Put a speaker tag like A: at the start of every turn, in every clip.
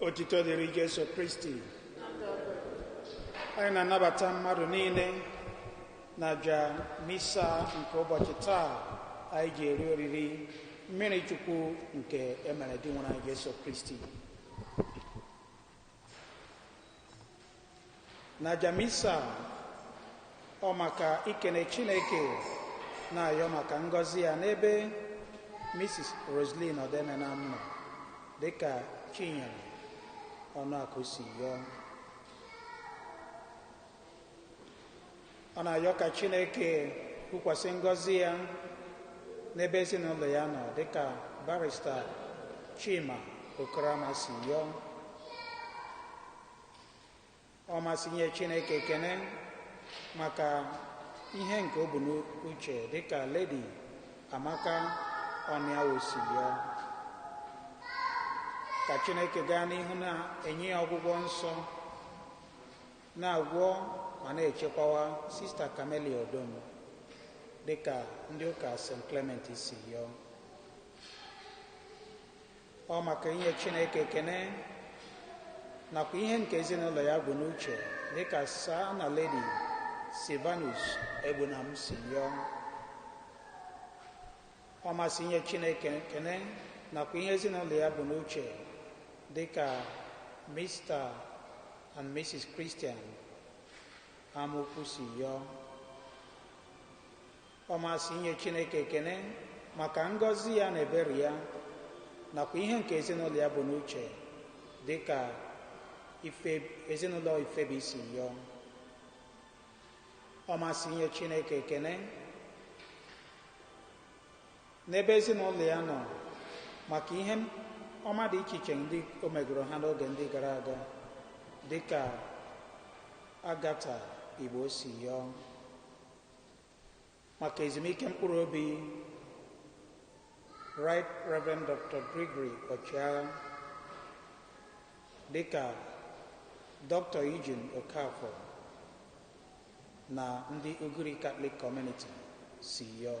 A: otito dịrị Jesu Kristi anyị na-anabata mmadụ niile na aja misa nke ụbọchị taa anyị ji eri oriri mmiri chukwu nke e mere Dinwenụ anyị Jesu Kristi n'aja misa ọ maka ikene chineke na-ayọ maka ngọzi ya n'ebe mrs roslyn ọdemenam nọ dịka chinyere ọnụakụ si yọọ ọ na-ayọ ka chineke wụkwasị ngọzi ya n'ebe ezinụlọ ya nọ dịka barista chima okoroama si yọọ ọ masị inye chineke ekene maka ihe nke o bu n'uche dịka ledi amaka ọnịawo si yọọ ka chineke gaa n'ihu na-enye ya ọgwụgwọ nsọ Na-agwọ ma na-echekwawa Sista Camelia Odom dịka ndị ụka St. Clement si yọọ. Ọ maka inye Chineke ekene nakwa ihe nke ezinụlọ ya bu n'uche dịka Sir na Lady Silvanus Egbunam si yọọ. ọ masị inye Chineke ekene nakwa ihe ezinụlọ ya bu n'uche dị ka Mr and Mrs Christian amaukwu si yọọ ọ masị inye Chineke ekene maka ngọzi ya na ebere ya nakwa ihe nke ezinụlọ ya bu n'uche dị ka ezinụlọ ifebi si yọọ ọ masị inye chineke ekene n'ebe ezinụlọ ya nọ maka ihe ọma dị iche iche ndị o megoro ha n'oge ndị gara aga dị ka agatha igbo si yọọ maka ezumike mkpụrụ obi Right Reverend Dr. Gregory Ọchịagha dịka Dr. Eugene Okafor na ndị Ugiri Catholic Community si yọọ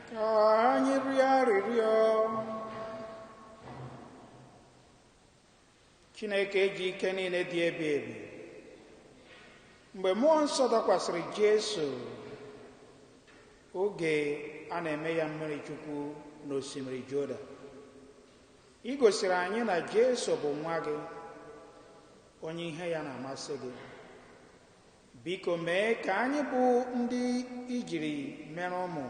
A: Ka anyị rịọ arịrịọ. Chineke ji ike niile dị ebi ebi. Mgbe mmụọ nsọ dakwasịrị Jesu oge a na-eme ya mmiri chukwu n'osimiri Jodan, i gosiri anyị na Jesu bụ nwa gị, onye ihe ya na-amasị gị. biko mee ka anyị bụ ndị i jiri mere ụmụ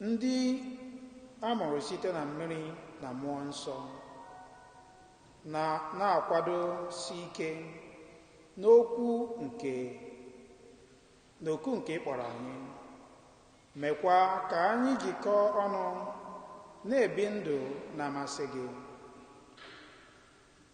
A: ndị a mụrụ site na mmiri na mmụọ nsọ na na-akwadosi ike n'okwu nke n'oku nke ị kpọrọ anyị mekwa ka anyị jikọọ ọnụ na-ebi ndụ na-amasị gị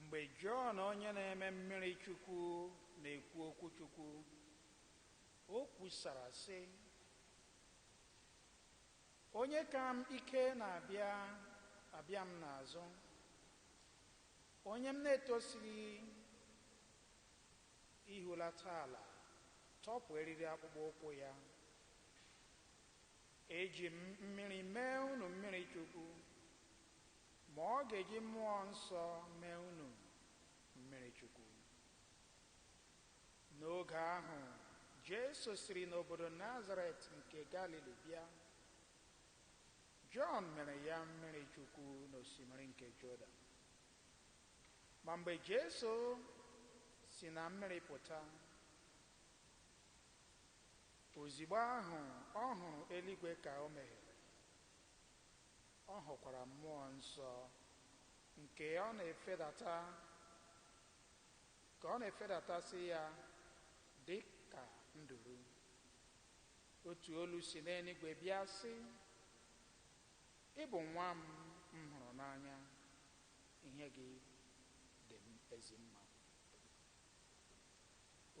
A: Mgbe Jọn Onye Na-eme Mmiri Chukwu na-ekwu okwu Chukwu, o kwusara, sị, Onye ka m ike na-abịa abịa m n'azụ, onye m na-etosighị ihulata ala tọpụ eriri akpụkpọ ụkwụ ya. Eji m mmiri mee unu mmiri chukwu, Ma ọ ga-eji Mụọ Nsọ mee unu mmiri chukwu. N'oge ahụ Jesu siri n'obodo Nazaret nke Galili bịa. Jọn mere ya mmiri chukwu n'osimiri nke Jodan. Ma mgbe Jesu si na mmiri pụta, ozigbo ahụ ọ hụrụ eluigwe ka o meghere, Ọ hụkwara Mmụọ Nsọ nke Ọ na-efedata, ka Ọ na-efedatasị Ya dị ka nduru. Otu olu si n'eluigwe bịa sị, Ị bụ Nwa m m hụrụ n'anya, ihe gị dị m ezi mma.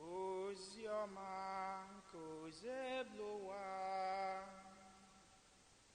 A: Ozi ọma nke Osebuluwa.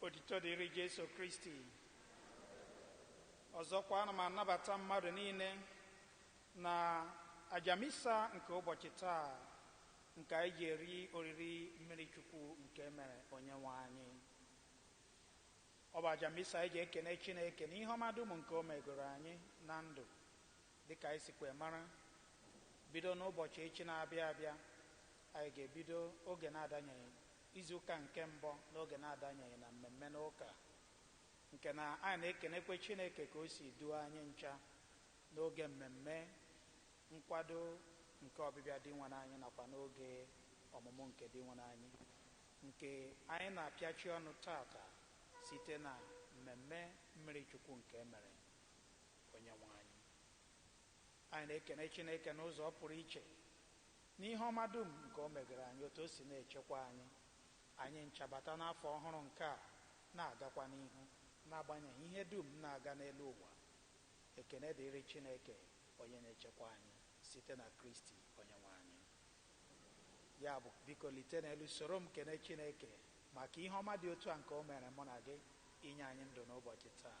A: otito dịrị jesu kristi ọzọkwa ana m anabata mmadụ niile na aja misa nke ụbọchị taa nke anyị ji eri oriri mmiri chukwu nke e mere onye nwe anyị ọ bụ aja misa anyị ji ekene chineke na ihe ọma dum nke o megoro anyị na ndụ Dị ka anyị sikwe mara, bido n'ụbọchị echi na-abịa abịa, anyị ga-ebido oge na-adanyeghị, izu ụka nke mbụ n'oge na-adanyeghị na mmemme n'ụka, nke na anyị na-ekenekwe Chineke ka O si duo anyị ncha n'oge mmemme nkwado nke ọbịbịa Dinwenụ anyị nakwa n'oge ọmụmụ nke Dinwenụ anyị, nke anyị na-apịachi ọnụ taata site na mmemme mmiri chukwu nke e mere. Onyenwe anyị. Anyị na-ekene Chineke n'ụzọ pụrụ iche n'ihe ọma dum nke o megere anyị, otu o si na-echekwa anyị. Anyị ncha bata n'afọ ọhụrụ nke a, na-agakwa n'ihu n'agbanyeghị ihe dum na-aga n'elu ụwa. Ekene dịrị Chineke onye na-echekwa anyị site na Kristi Onyenwe anyị. Ya bụ, biko lite n'elu soro m kene Chineke maka ihe ọma dị otu a nke o meere mụ na gị, inye anyị ndụ n'ụbọchị taa.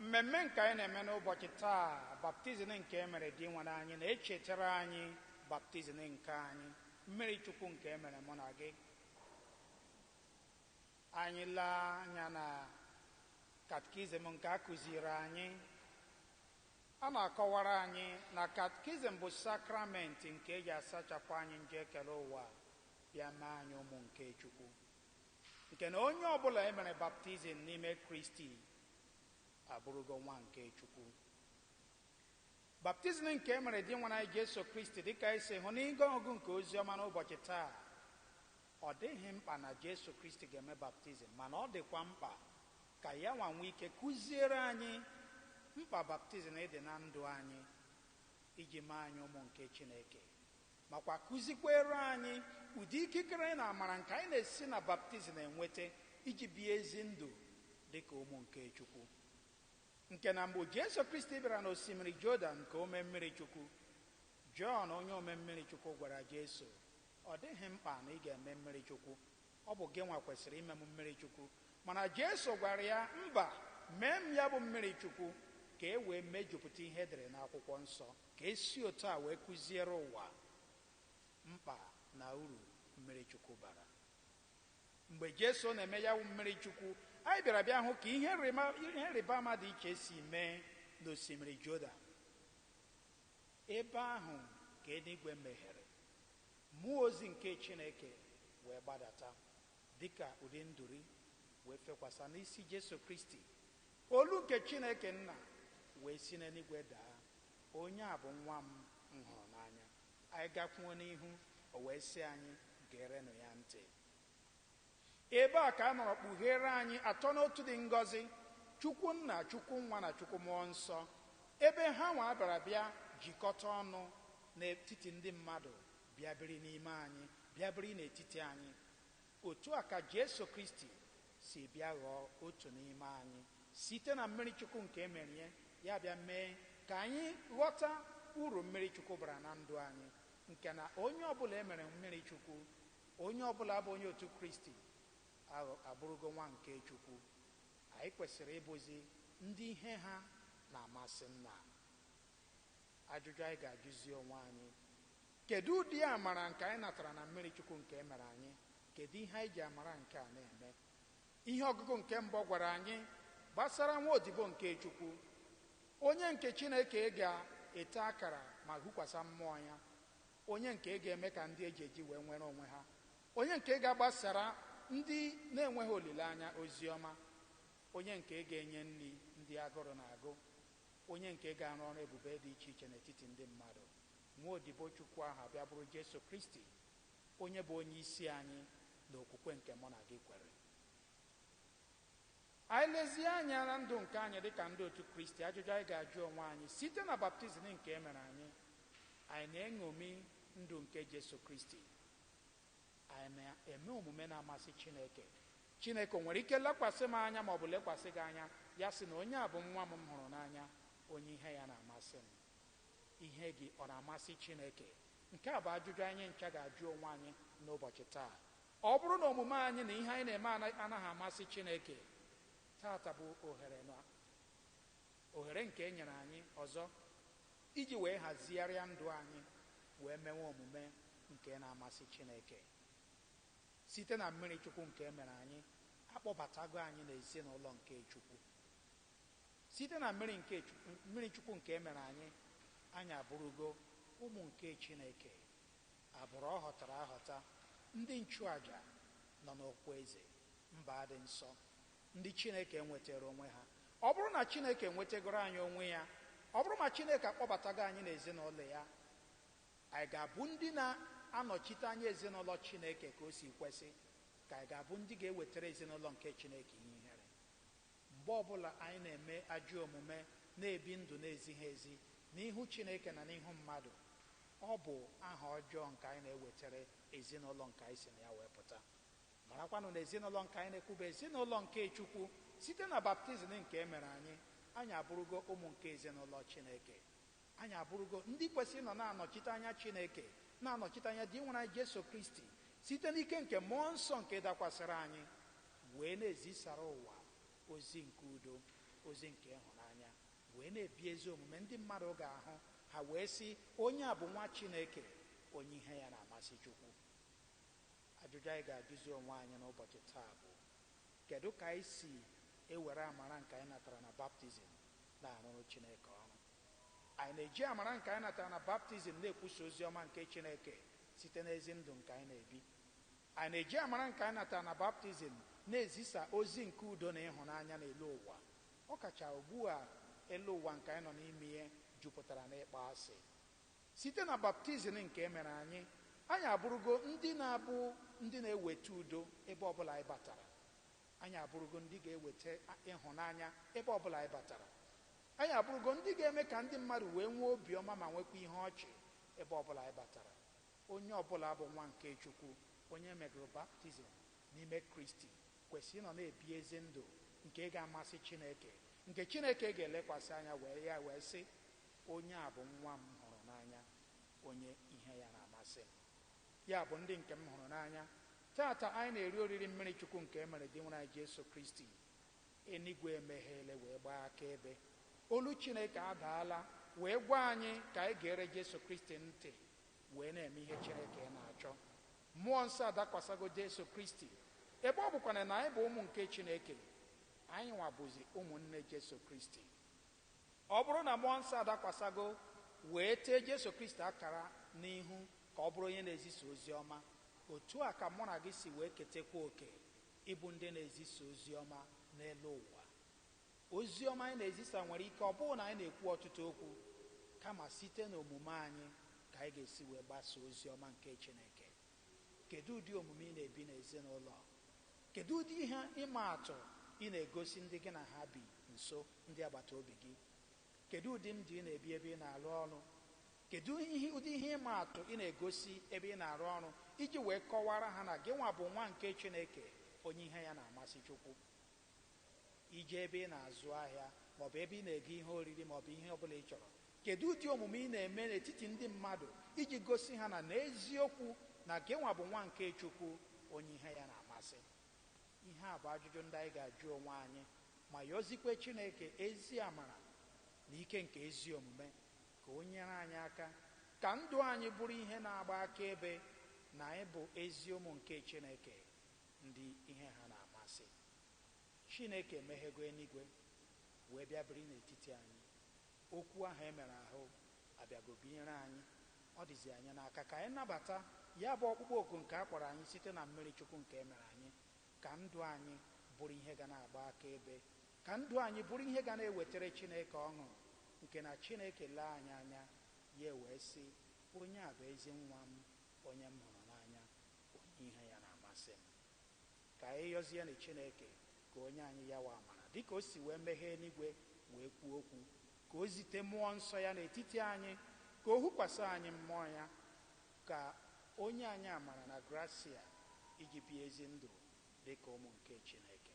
A: Mmemme nke anyị na-eme n'ụbọchị taa, baptizim nke e mere Dinwenụ anyị, na-echetara anyị baptizim nke anyị, mmiri Chukwu nke e mere mụ na gị. Anyị lee anya na katkizim nke a kụziiri anyị, a na-akọwara anyị na katkizim bụ sakramenti nke e ji asachapụ anyị njọ ekere ụwa bịa mee anyị ụmụ nke Chukwu. nke na onye ọ bụla e mere baptizim n'ime Kristi abụrụgo nwa nke Chukwu. Baptizim nke e mere Dinwenụ anyị Jesu Kristi dịka anyị si hụ n'ihe ọgụgụ nke ozi ọma n'ụbọchị taa, ọ dịghị mkpa na Jesu Kristi ga-eme baptizim, mana ọ dịkwa mkpa ka ya nwa nwee ike kụziere anyị mkpa baptizim dị na ndụ anyị iji mee anyị ụmụ nke Chineke. makwa kụzikweere anyị ụdị ikikere na amara nke anyị na-esi na baptizim enweta iji bie ezi ndụ dị ka ụmụ nke Chukwu. Nke na mgbe Jesu Kristi bịara n'osimiri Jodan ka o mee mmiri Chukwu, Jọn onye ome mmiri Chukwu gwara Jesu, Ọ dịghị mkpa na ị ga-eme mmiri Chukwu, ọ bụ gịnwa kwesịrị ime m mmiri Chukwu. Mana Jesu gwara ya, Mba, mee m ya bụ mmiri Chukwu, ka e wee mejupụta ihe e dere n'akwụkwọ nsọ. Ka e si otu a wee kụziere ụwa mkpa na uru mmiri chukwu bara. Mgbe Jesu na-eme ya wụ mmiri chukwu, anyị bịara bịa hụ ka ihe nrịma- ihe nrịba ama dị iche si mee n'osimiri Jodan. Ebe ahụ ka eluigwe meghere, mmụọ ozi nke Chineke wee gbadata dị ka ụdị nduri wee fekwasa n'isi Jesu Kristi, olu nke Chineke Nna wee si n'eluigwe daa. Onye a bụ Nwa m m hụrụ n'anya. Anyị gakwuo n'ihu, o wee sị anyị, Gerenụ ya ntị. Ebe a ka a nọrọ kpugheere anyị Atọ n'Otu dị ngọzi, Chukwu Nna, Chukwu Nwa, na Chukwu Mmụọ Nsọ, ebe hanwa bịara bịa jikọta ọnụ n'etiti ndị mmadụ, bịa biri n'ime anyị, bịa biri n'etiti anyị. Otu a ka Jesu Kristi si bịa ghọọ otu n'ime anyị site na mmiri Chukwu nke e mere ya, ya abịa mee ka anyị ghọta uru mmiri Chukwu bara na ndụ anyị, nke na onye ọ bụla e mere mmiri Chukwu, onye ọ bụla bụ onye otu Kristi, aghọ, abụrụgo nwa nke Chukwu. Anyị kwesịrị ịbụzi ndị ihe ha na-amasị Nna. Ajụjụ anyị ga-ajụzi onwe anyị, Kedụ ụdị amara nke anyị natara na mmiri Chukwu nke e mere anyị? Kedụ ihe anyị ji amara nke a na-eme? Ihe ọgụgụ nke mbụ gwara anyị gbasara nwa odibo nke Chukwu, onye nke Chineke ga-ete akara ma hukwasa mmụọ ya, onye nke ga-eme ka ndị e ji eji wee nwere onwe ha, onye nke ga-agbasara ndị na-enweghị olileanya ozi ọma, onye nke ga-enye nri ndị agụrụ na-agụ, Onye nke ga-arụ ọrụ ebube dị iche iche n'etiti ndị mmadụ. Nwa odibo Chukwu ahụ abịa bụrụ Jesu Kristi, Onye bụ Onye isi anyị n'okwukwe nke mụ na gị kwere. Anyị lezie anya na ndụ nke anyị dị ka ndị otu Kristi, ajụjụ anyị ga-ajụ onwe anyị, site na baptizim nke e mere anyị, anyị na-eṅomi ndụ nke Jesu Kristi? Anyị na-eme omume na-amasị Chineke, Chineke o nwere ike lekwasị m anya ma ọ bụ lekwasị gị anya, ya sị na onye a bụ nwa m m hụrụ n'anya, onye ihe ya na-amasị m? Ihe gị ọ na-amasị Chineke? Nke a bụ ajụjụ anyị ncha ga-ajụ onwe anyị n'ụbọchị taa. Ọ bụrụ na omume anyị na ihe anyị na-eme anaghị amasị Chineke, taata bụ ohere na ohere nke e nyere anyị ọzọ Iji wee hazigharịa ndụ anyị wee mewe omume nke na-amasị Chineke. Site na mmiri Chukwu nke e mere anyị, a kpọbatago anyị n'ezinụlọ nke Chukwu. Site na mmiri nke mmiri Chukwu nke e mere anyị, anyị abụrụgo ụmụ nke Chineke, agbụrụ ọ họtara ahọta, ndị nchụaja nọ n'ọkwa eze, mba dị nsọ, ndị Chineke nwetara onwe ha. Ọ bụrụ na Chineke nwetagoro anyị onwe ya, ọ bụrụ ma Chineke akpọbatago anyị n'ezinụlọ ya, anyị ga-abụ ndị na-anọchite anya ezinụlọ Chineke ka o si kwesị, ka anyị ga-abụ ndị ga-ewetara ezinụlọ nke Chineke ihe ihere. Mgbe ọ bụla anyị na-eme ajọ omume, na-ebi ndụ na-ezighị ezi n'ihu Chineke na n'ihu mmadụ, ọ bụ aha ọjọọ nke anyị na-ewetara ezinụlọ nke anyị si na ya wee pụta. Marakwanụ na ezinụlọ nke anyị na-ekwu bụ ezinụlọ nke Chukwu. Site na baptizim nke e mere anyị, anyị abụrụgo ụmụ nke ezinụlọ Chineke. Anyị abụrụgo ndị kwesịrị ịnọ na-anọchite anya Chineke, na-anọchite anya Dinwere anyị Jesu Kristi, site n'ike nke Mmụọ Nsọ nke dakwasịrị anyị, wee na-ezisara ụwa ozi nke udo, ozi nke ịhụnanya, wee na-ebi ezi omume ndị mmadụ ga-ahụ, ha wee sị, Onye a bụ Nwa Chineke, onye ihe ya na-amasị Chukwu. Ajụjụ anyị ga-ajụzi onwe anyị n'ụbọchị taa bụ, Kedụ ka anyị si ewere amara nke anyị natara na baptizim na-arụrụ Chineke ọrụ? Anyị na-eji amara nke anyị natara na baptizim na-ekwusa ozi ọma nke Chineke site n'ezi ndụ nke anyị na-ebi? Anyị na-eji amara nke anyị natara na baptizim na-ezisa ozi nke udo na ịhụnanya n'elu ụwa, ọ kacha ugbu a elu ụwa nke anyị nọ n'ime ya jupụtara n'ịkpọasị? Site na baptizim nke e mere anyị, anyị abụrụgo ndị na-abụ ndị na-eweta udo ebe ọ bụla anyị batara. Anyị abụrụgo ndị ga-eweta ịhụnanya ebe ọ bụla anyị batara. Anyị abụrụgo ndị ga-eme ka ndị mmadụ wee nwee obiọma ma nwekwa ihe ọchị ebe ọ bụla anyị batara. Onye ọ bụla bụ nwa nke Chukwu, onye e megoro baptizim n'ime Kristi, kwesịrị ịnọ na-ebi ezi ndụ nke ga-amasị Chineke, nke Chineke ga-elekwasị anya wee sị, Onye a bụ Nwa m hụrụ n'anya, onye ihe ya na-amasị m. Ya bụ, ndị nke m hụrụ n'anya, taata anyị na-eri oriri mmiri Chukwu nke e mere Dinwere anyị Jesu Kristi. Eluigwe emeghele wee gbaa akaebe. Olu Chineke adaala wee gwa anyị ka anyị geere Jesu Kristi ntị wee na-eme ihe Chineke na-achọ. Mmụọ Nsọ adakwasago Jesu Kristi. Ebe ọ bụkwanụ na anyị bụ ụmụ nke Chineke, anyịnwa bụzi ụmụnne Jesu Kristi. Ọ bụrụ na Mmụọ Nsọ adakwasago wee tee Jesu Kristi akara n'ihu ka Ọ bụrụ onye na-ezisa Oziọma, otu a ka mụ na gị si wee ketekwa oke ịbụ ndị na-ezisa Oziọma n'elu ụwa. Oziọma anyị na-ezisa nwere ike ọ bụghị na anyị na-ekwu ọtụtụ okwu, kama site n'omume anyị ka anyị ga-esi wee gbasaa Oziọma nke Chineke. Kedụ ụdị omume ị na-ebi n'ezinụlọ? Kedụ ụdị ihe ịma atụ ị na-egosi ndị gị na ha bi nso, ndị agbata obi gị? Kedụ ụdị ndụ ị na-ebi ebe ị na-arụ ọrụ? Kedụ ụdị ihe ịma atụ ị na-egosi ebe ị na-arụ ọrụ iji wee kọwaara ha na gịnwa bụ nwa nke Chineke, onye ihe ya na-amasị Chukwu? I jee ebe ị na-azụ ahịa ma ọ bụ ebe ị na-ego ihe oriri ma ọ bụ ihe ọ bụla ị chọrọ. Kedu ụdị omume ị na-eme n'etiti ndị mmadụ iji gosi ha na n'eziokwu na gịnwa bụ nwa nke Chukwu, onye ihe ya na-amasị? Ihe a bụ ajụjụ ndị anyị ga-ajụ onwe anyị ma yọzikwe Chineke ezi amara na ike nke ezi omume ka o nyere anyị aka ka ndụ anyị bụrụ ihe na-agba akaebe na anyị bụ ezi ụmụ nke Chineke. Ndị ihe ha na-amasị. Chineke emeghego eluigwe wee bịa biri n'etiti anyị. Okwu ahụ e mere ahụ abịago binyere anyị. Ọ dịzi anyị n'aka ka anyị nabata ya bụ ọkpụkpọ oku nke a kpọrọ anyị site na mmiri Chukwu nke e mere anyị, ka ndụ anyị bụrụ ihe ga na-agba akaebe, ka ndụ anyị bụrụ ihe ga na-ewetara Chineke ọṅụ, nke na Chineke lee anyị anya, ya ewee sị, Onye a bụ ezi Nwa m, onye m hụrụ n'anya. onye ihe ya na-amasị m. Ka anyị yọzienụ Chineke ka o nye anyị yawa amara, dịka o si wee meghee eluigwe wee kwuo okwu, ka o zite Mụọ Nsọ ya n'etiti anyị, ka o hukwasị anyị Mmụọ ya, ka o nye anyị amara na grasịa iji bie ezi ndụ dịka ụmụ nke Chineke.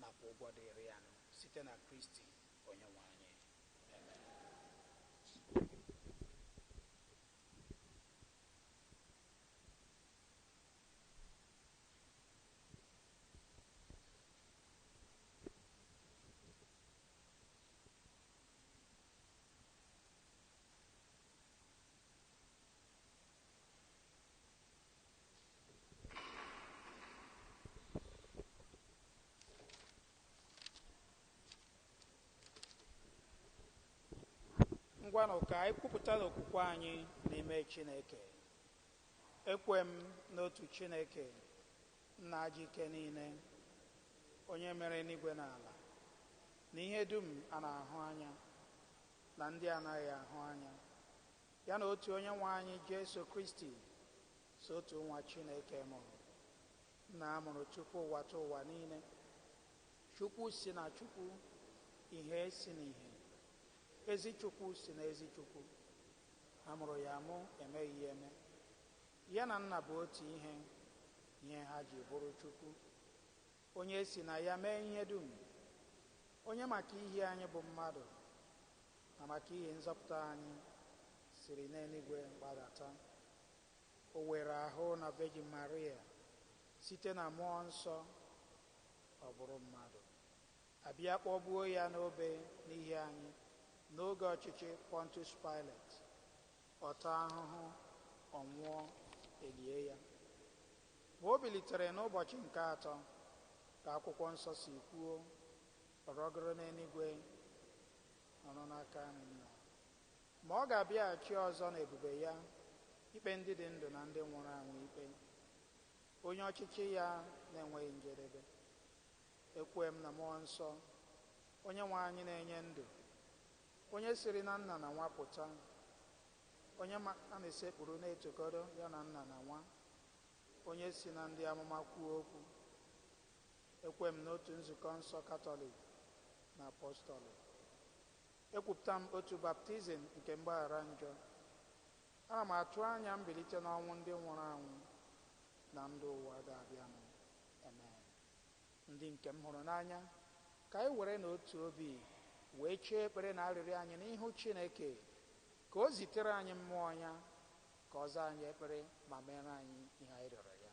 A: nakwa ụgwọ dịịrị ya nụ site na Kristi Onyenwe anyị. ngwanụ ka anyị kwupụtanụ okwukwe anyị n'ime chineke ekwe m n'otu chineke nna ji ike niile onye mere enuigwe na ala na ihe dum a na-ahụ anya na ndị anaghị ahụ anya Ya na otu Onyenwe anyị Jesu Kristi sọ otu Nwa Chineke mụrụ. Nna mụrụ tupu ụwatụwa niile. Chukwu si na Chukwu, ihe si na ihe. Ezi Chukwu si na ezi Chukwu. A mụrụ ya amụ, emeghị ya eme. Ya na Nna bụ otu ihe, ihe ha ji bụrụ Chukwu. Onye e si na ya mee ihe dum, onye maka ihi anyị bụ mmadụ na maka ihi nzọpụta anyị siri n'eluigwe gbadata. O were ahụ na Vejin Maria site na Mmụọ Nsọ, ọ bụrụ mmadụ, a bịa kpọgbuo ya n'obe n'ihi anyị n'oge ọchịchị Pọntus Paịlet, ọ taa ahụhụ, ọ nwụọ, e lie ya. Ma o bilitere n'ụbọchị nke atọ, ka Akwụkwọ Nsọ si kwuo, ọ rọgoro n'eluigwe, nọrọ n'aka nri Nna. Ma ọ ga-abịaghachi ọzọ n'ebube ya ikpe ndị dị ndụ na ndị nwụrụ anwụ ikpe, onye ọchịchị ya na-enweghị njedebe. Ekwe m na Mmụọ Nsọ, Onyenwe anyị na-enye ndụ, onye siri na Nna na Nwa pụta, Onye ma a na-esekpuru na-etokọrọ ya na nna na nwa. Onye si na ndị amụma kwuo okwu. Ekwe m n'otu nzukọ nsọ Katọlik na Apọstọlịk. Ekwupụta m otu baptizim nke mgbaghara njọ. Ana m atụ anya mbilite n'ọnwụ ndị nwụrụ anwụ na ndụ ụwa ga-abịanụ. Amen. Ndị nke m hụrụ n'anya, ka anyị were na otu obi wee chee ekpere na arịrịọ anyị n'ihu Chineke, ka O zitere anyị Mmụọ Ya, ka Ọ zaa anyị ekpere ma meere anyị ihe anyị rịọrọ Ya.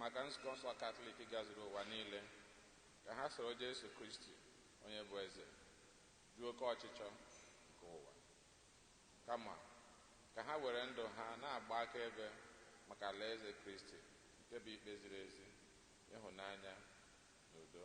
A: maka nzukọ nsọ katọlik gazuru ụwa niile ka ha soro jesu kristi onye bụ eze jụ oke ọchịchọ nke ụwa kama ka ha were ndụ ha na-agba akaebe maka alaeze kristi nke bụ ikpe ziri ezi ịhụnanya na udo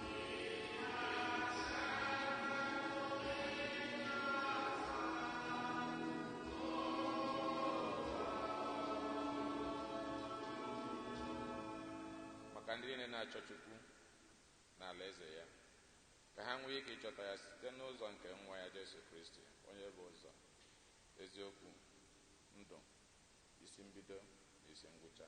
A: maka ndị niile na-achọ Chukwu na alaeze ya ka ha nwee ike ịchọta ya site n'ụzọ nke nwa ya Jesu Kristi onye bụ ụzọ eziokwu ndụ isi mbido na isi ngwụcha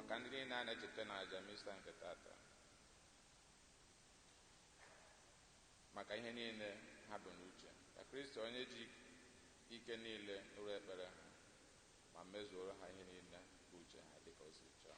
A: maka ndị niile a na-echeta na aja Misa nke tata maka ihe niile ha bu n'uche ka kristi onye ji ike niile nụrụ ekpere ha ma mezuoro ha ihe niile bụ uche ha dịka o si chọọ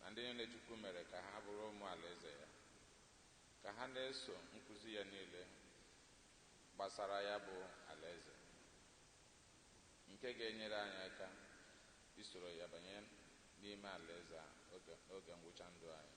A: na ndị niile Chukwu mere ka ha bụrụ ụmụ alaeze ya, ka ha na-eso nkuzi ya niile gbasara ya bụ alaeze, nke ga-enyere anyị aka isoro ya banye n'ime alaeze a n'oge ngwụcha ndụ anyị.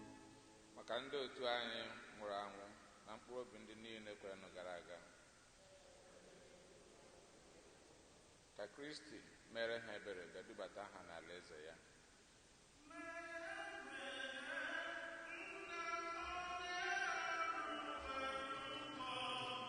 A: Maka ndị otu anyị nwụrụ anwụ na mkpụrụ obi ndị niile kwerenụ gara aga, ka Kristi meere ha ebere bịa dubata ha n'alaeze ya.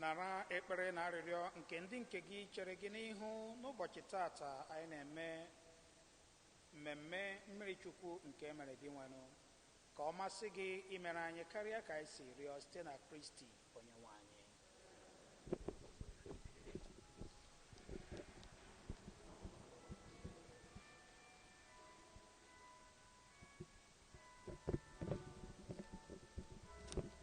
A: nara ekpere na arịrịọ nke ndị nke gị chere gị n'ihu n'ụbọchị tata anyị na-eme mmemme mmiri chukwu nke e mere gị nwenụ ka ọ masị gị imere anyị karịa ka anyị si rịọ site na Kristi Onyenwe anyị.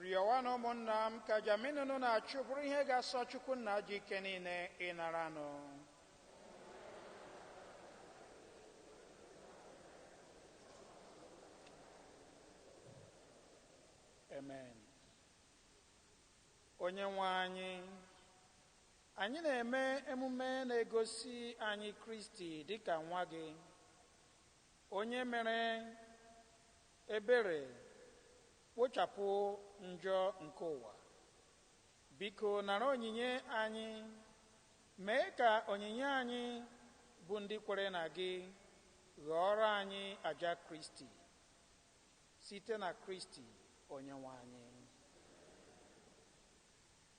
A: rịọwanụ ụmụnna m ka aja mụ na unu na-achụ bụrụ ihe ga-asọ chukwu nna ji ike niile ịnaranụ amen onye nwe anyị anyị na-eme emume na-egosi anyị kristi dịka nwa gị Onye mere ebere wụchapụ njọ nke ụwa. Biko nara onyinye anyị, mee ka onyinye anyị bụ ndị kwere na gị ghọọrọ anyị aja Kristi, site na Kristi Onyenwe anyị.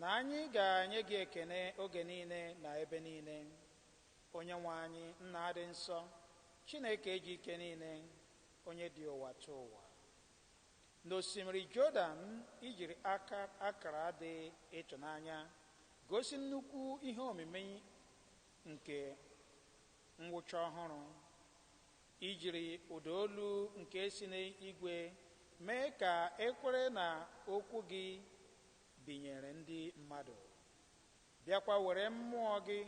A: Na anyị ga-enye gị ekene oge niile na ebe niile. Onyenwe anyị, Nna dị nsọ, Chineke ji ike niile, onye dị ụwa tụ ụwa. N'osimiri Jodan i jiri akara dị ịtụnanya gosi nnukwu ihe omimi nke mwụcha ọhụrụ. I jiri ụda olu nke si n'igwe mee ka e kwere na okwu gị binyere ndị mmadụ, bịakwa were mmụọ gị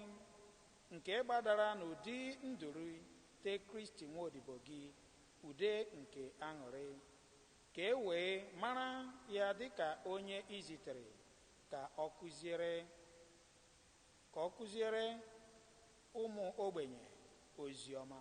A: nke gbadara n'ụdị nduru tee Kristi Nwodibo gị ude nke aṅụrị, ka e wee mara ya dịka onye i zitere ka ọ kụziere ka ọ kụziere ụmụ ogbenye ozi ọma.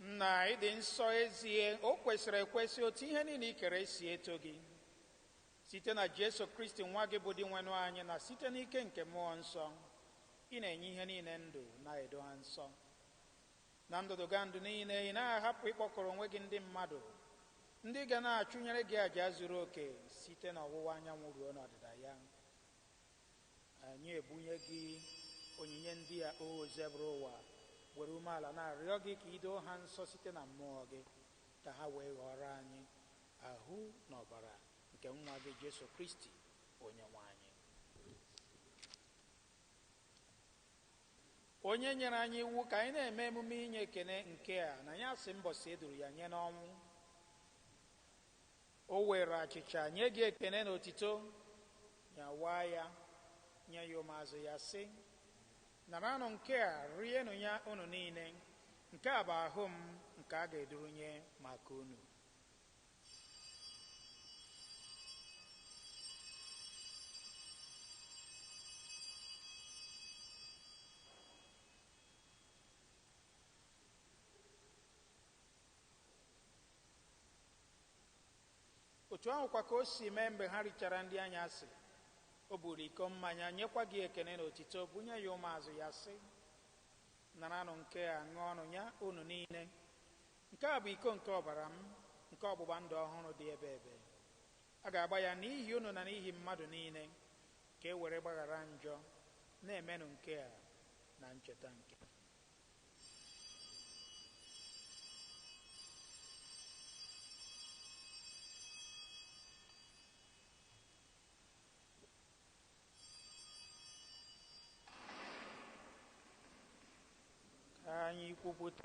A: nna ị dị nsọ ezie o kwesịrị ekwesị otu ihe niile i kere si eto gị site na jesu kristi nwa gị bụ dinwenụ anyị na site n'ike nke mmụọ nsọ Ị na-enye ihe niile ndụ, na-edo ha nsọ. Na ndụdụgandụ niile, ị naghị ahapụ ịkpọkọrọ onwe gị ndị mmadụ, ndị ga na-achụnyere gị aja zuru oke site n'ọwụwa anyanwụ ruo n'ọdịda ya. Anyị ebunye gị onyinye ndị a, Osebụrụwa, were umeala na-arịọ gị ka i doo ha nsọ site na mmụọ gị, ka ha wee ghọọrọ anyị ahụ na ọbara nke Nwa gị, Jesu Kristi, Onyenwe anyị. Onye nyere anyị iwu ka anyị na-eme emume inye ekene nke a n'anyasị mbọsị e duru ya nye n'ọnwụ, o weere achịcha, nye gị ekene na otito, nyawaa ya, nye ya ụmụazụ ya, sị, Naranụ nke a, rienụ ya unu niile, nke a bụ ahụ m nke a ga-edurunye maka unu. otu ahụkwa ka o si mee mgbe ha richara nri anyasị o buru iko mmanya nyekwa gị ekene na otito bunye ya ụmụazụ ya sị naranụ nke a ṅụọnụ ya unu niile Nke a bụ iko nke ọbara m nke ọgbụgba ndụ ọhụrụ dị ebeebe. A ga-agba ya n'ihi unu na n'ihi mmadụ niile ka e were gbaghara njọ. Na-emenụ nke a na ncheta nke m. Ka anyị kwupụta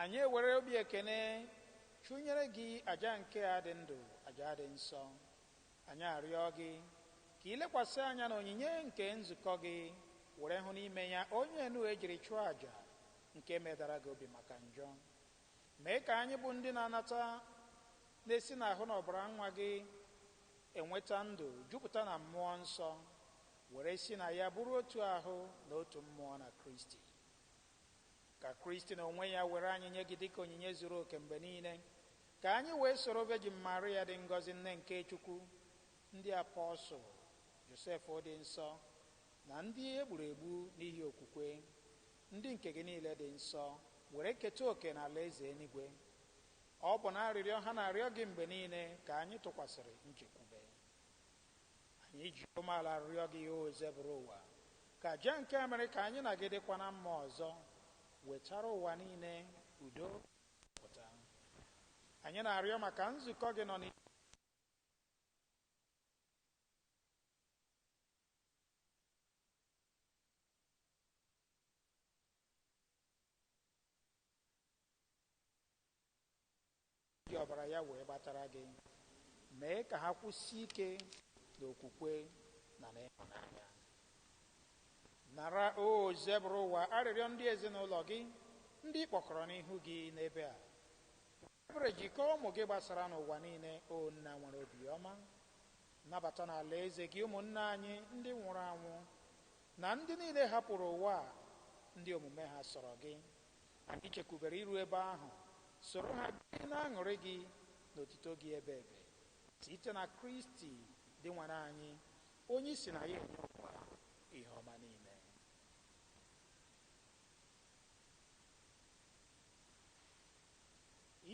A: Anyị ewere obi ekene chụnyere Gị aja nke a dị ndụ, aja dị nsọ. Anyị arịọ Gị ka I lekwasị anya n'onyinye nke nzukọ Gị, were hụ n'ime ya onye enu e jiri chụọ aja nke medara Gị obi maka njọ. Mee ka anyị bụ ndị na-anata na-esi n'ahụ na ọbara Nwa Gị enweta ndụ jupụta na Mmụọ Nsọ, were si na Ya bụrụ otu ahụ na otu mmụọ na Kristi. Ka Kristi n'onwe ya were anyị nye gị dịka onyinye zuru oke mgbe niile, ka anyị wee soro Vejin Maria dị ngọzi Nne nke Chukwu, ndị apọsụl, Josef dị nsọ, na ndị e gburu egbu n'ihi okwukwe, ndị nke gị niile dị nsọ, were keta oke n'alaeze enuigwe. Ọ bụ n'arịrịọ ha na-arịọ gị mgbe niile ka anyị tụkwasịrị nchekwube. Anyị ji umeala arịọ gị, Osebụrụwa, ka aja nke mere ka anyị na gị dịkwa na mma ọzọ wetara ụwa niile udo na nzọpụta. Anyị na-arịọ maka nzukọ gị nọ n'ime Ji ọbara ya wee gbatara gị. Mee ka ha kwụsie ike n'okwukwe na n'ịhụnanya. Nara, Osebụrụwa, arịrịọ ndị ezinụlọ gị, ndị ị kpọkọrọ n'ihu gị n'ebe a. Were ebere jikọọ ụmụ gị gbasara n'ụwa niile, O Nna nwere obiọma. Nabata n'Alaeze gị ụmụnna anyị ndị nwụrụ anwụ na ndị niile hapụrụ ụwa a ndị omume ha sọrọ gị. Anyị chekwubere iru ebe ahụ, soro ha biri n'añụrị gị na otito gị ebeebe, site na Kristi Dinwenụ anyị, onye i si na ya enye ụwa ihe ọma niile.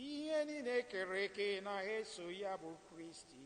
A: Ihe niile e kere eke na-eso ya bụ Kristi.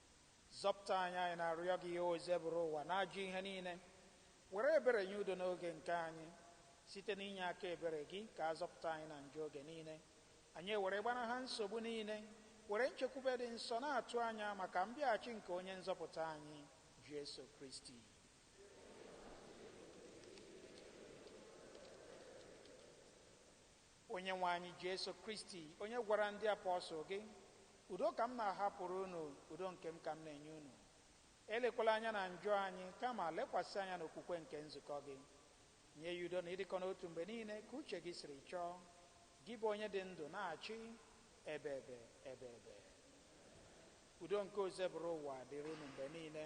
A: Zọpụta anyị, anyị na-arịọ gị, Osebụrụwa n'ajọ ihe niile. Were ebere nye udo n'oge nke anyị. Site n'inye aka ebere gị ka a zọpụta anyị na njọ oge niile. Anyị ewere gbanaha nsogbu niile, were nchekwube dị nsọ na-atụ anya maka mbịaghachi nke Onye Nzọpụta anyị, Jesu Kristi. Onyenwe anyị Jesu Kristi, onye gwara ndị apọsụl gị, Udo ka m na-ahapụrụ unu, udo nke m ka m na-enye unu. Elekwala anya na njọ anyị, kama lekwasị anya n'okwukwe nke nzukọ gị. Nye ya udo na ịdịkọ n'otu mgbe niile ka uche gị siri chọọ, gị bụ onye dị ndụ na-achị ebeebe ebeebe. Udo nke Osebụrụwa dịrị unu mgbe niile.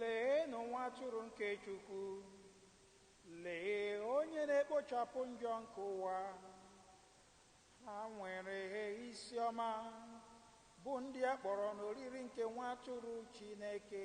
A: Leenụ nwa atụrụ nke Chukwu! Lee onye na-ekpochapụ njọ nke ụwa! Ha nwere isi ọma, bụ ndị a kpọrọ n'oriri nke nwa atụrụ Chineke.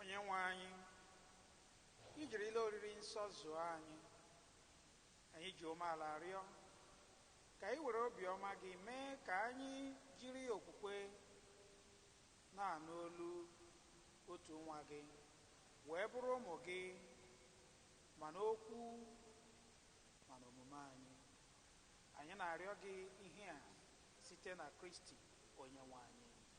A: onye nwe anyị i jirila oriri nsọ zụọ anyị anyị ji umeala arịọ ka ị were obiọma gị mee ka anyị jiri okwukwe na-anụ olu otu nwa gị wee bụrụ ụmụ gị ma n'okwu ma n'omume anyị anyị na-arịọ gị ihe a site na kristi onye nwe anyị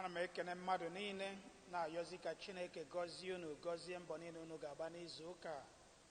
A: ana m ekene mmadụ niile na-ayọzi ka chineke gọzie unu gọzie mbọ niile unu ga-agba n'izu ụka a.